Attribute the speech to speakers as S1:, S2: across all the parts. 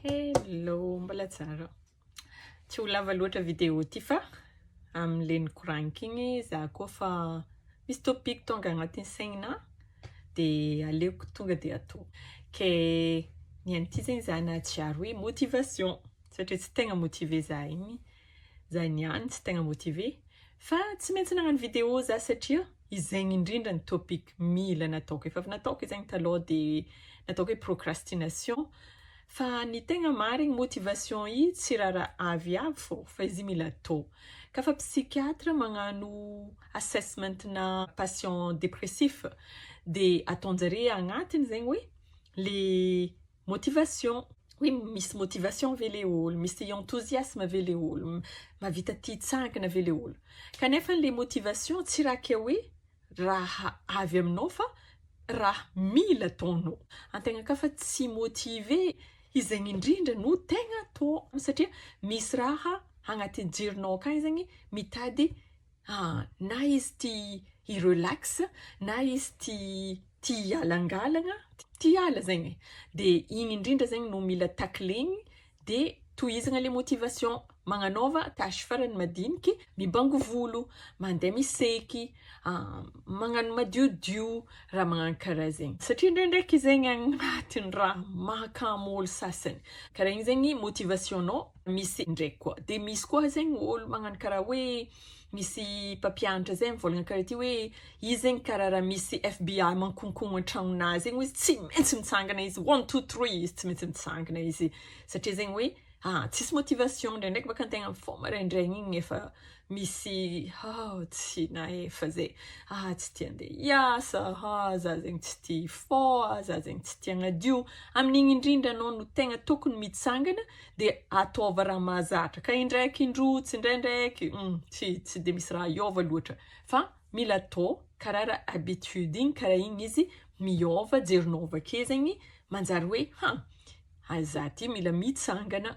S1: Hello, mbola tsara. Tsy ho lava loatra vidéo ty fa amin'ilay nikoraniko igny za koa fa misy topic tonga agnatin'ny saignina dia aleoko tonga dia atao. Ke ny an'ity zegny za nahatsiaro hoe motivation satria tsy tegna motiver za igny. Zany ihany tsy tegna motivé. Fa tsy maintsy nagnano vidéo za satria izegny indrindra ny topic mila nataoko. Efa avy nataoko izegny taloha de nataoko hoe procrastination. Fa ny tegna marigny motivation i tsy raha ra avy avy fô fa izy i mila atao. Ka fa psychiatre magnano assessment na patient dépressif de ataonjare agnatiny zegny hoe le Motivation, hoe misy motivation ve le olo, misy enthousiasme ve le olo, mahavita tia hitsangana ve le olo. Kanefa ilay motivation tsy raha kay hoe raha avy aminao fa raha mila ataonao. Antegna ka fa tsy motivé, izegny indrindra no tegna atao satria misy raha agnatin'ny jironao akagny zegny mitady Ah, na izy tia hi-relax, na izy tia tia hialangalagna, tia hiala zegny e, dia igny indrindra zegny no mila tacler-gny, dia tohizagna le motivation, magnanaova tâche farany madiniky, mibango volo, mandeha miseky, magnano madiodio, raha magnano karaha zegny, satria ndraindraiky zegny agnatin'ny raha mahakamo olo sasany, karaha igny zegny motivation-nao misy ndraiky koa de misy koa zegny olo magnano karaha hoe misy mpampianatra zay mivôlagna karaha ty hoe izy zegny karaha raha misy FBI mankonkogno antragnonah zegny ozy tsy maintsy mitsangana izy one two three izy tsy maintsy mitsangana izy satria zegny hoe ah tsisy motivation ndraindraiky baka antegna mifôha maraindraigny igny efa misy hoo tsy naefa ze aa tsy tia ndeha hiasa aa za zegny tsy tia hifoo aa za zegny tsy tia hagnadio amin'igny indrindra anao no tegna tokony mitsangana de ataova raha mahazatra ka indraiky indroa tsindraindraiky hum tsy tsy de misy raha hiova loatra fa mila atao karaha raha habitude igny karaha igny izy miôva jerinao avake zegny manjary hoe ha! za ty mila mitsangana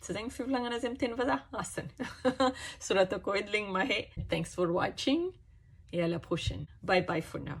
S1: Tsy izay ny fivolagnana azy amin'ny teny vazaha? Asany. Soratako edy le ny mahay. Thanks for watching et à la prochaine. Bye bye for now.